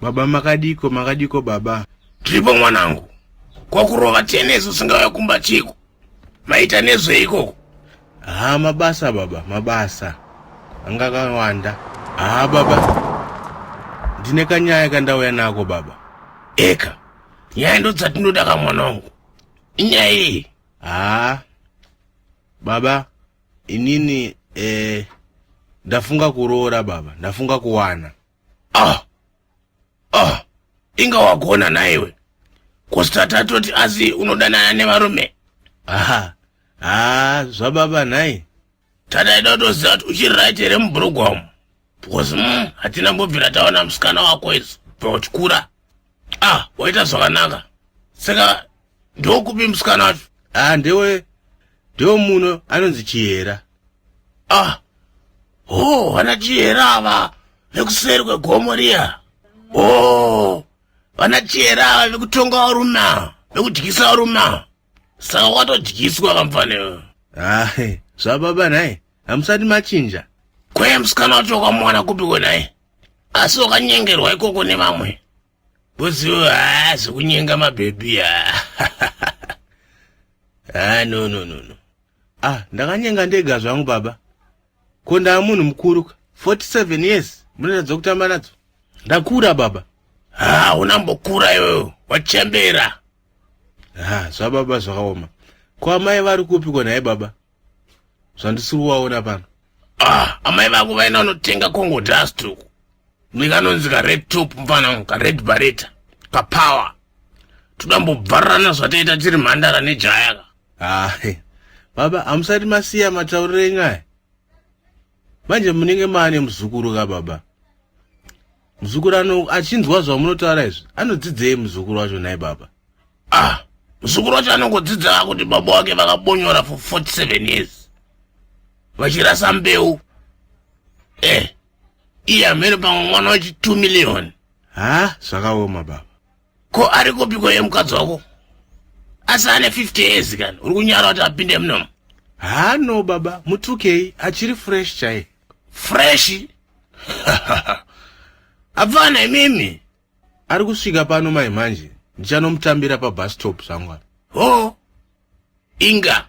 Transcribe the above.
Baba makadiko makadiko baba. Tiripo mwanangu. Kwakurova tennis usingauya kumba chiko. Maita nezvei ikoko? Haa mabasa baba mabasa. Anga kawanda. Haa baba. Ndine kanyaya kandauya nako baba. Eka. Nyaya ndodzatinoda ka mwanangu. Inyaya iyi. Haa. Baba inini eh ndafunga kuroora baba ndafunga kuwana ah ah inga wagona naiwe kosta tatoti asi unodanana nevarume aha haa zvababa nhai tadaida kutoziva kuti uchiri right here mubrugwa umu because mm, hatina mbobvira taona musikana wako isu pakuchikura ah waita zvakanaka saka ndokupi musikana wacho ah ndewe ndewe muno anonzi chihera ah oh vana chihera ava vekuseri kwegomo riya oh vana chihera ava vekutonga varuma vekudyisa varuma saka watodyiswa kamfanewe ahe zvababa nhai hamusati machinja kwee musikana wacho wakamwana kupi kwenaye asi wakanyengerwa ikoko nevamwe Bozo haa zvekunyenga mabhebhi haa haa no no no no ah ndakanyenga ndega zvangu baba ko ndaa munhu mukuru ka 47 years munoratidza kutamba nadzo ndakura baba haa unambokura iweyo wachembera haa zvababa zvakaoma ko amai vari kupi ko nhai baba zvandisiri kuvaona pano ah, amai vako vaina vanotenga congo dust uku nekanonzi kared top mfana kared bareta kapower todambobvarurana zvataita tiri mhandara nejayaka ah, baba hamusati masiya matauriro enyu aya manje munenge maane muzukuru ka baba muzukuru ano achinzwa zvamunotaura izvi anodzidzei muzukuru wacho nai baba ah muzukuru wacho anongodzidza kuti baba wake vakabonyora for 47 years vachirasa mbeu eh iye amene pamwe mwana wachi 2 million ha zvakaoma baba ko ari kupiko ye mukadzi wako asi ane 50 years kana uri kunyara kuti apinde munomu ha no baba mutukei achiri fresh chai fresh apfana imimi ari kusvika pano mai manje ndichanomutambira pabus stop zvangu ho inga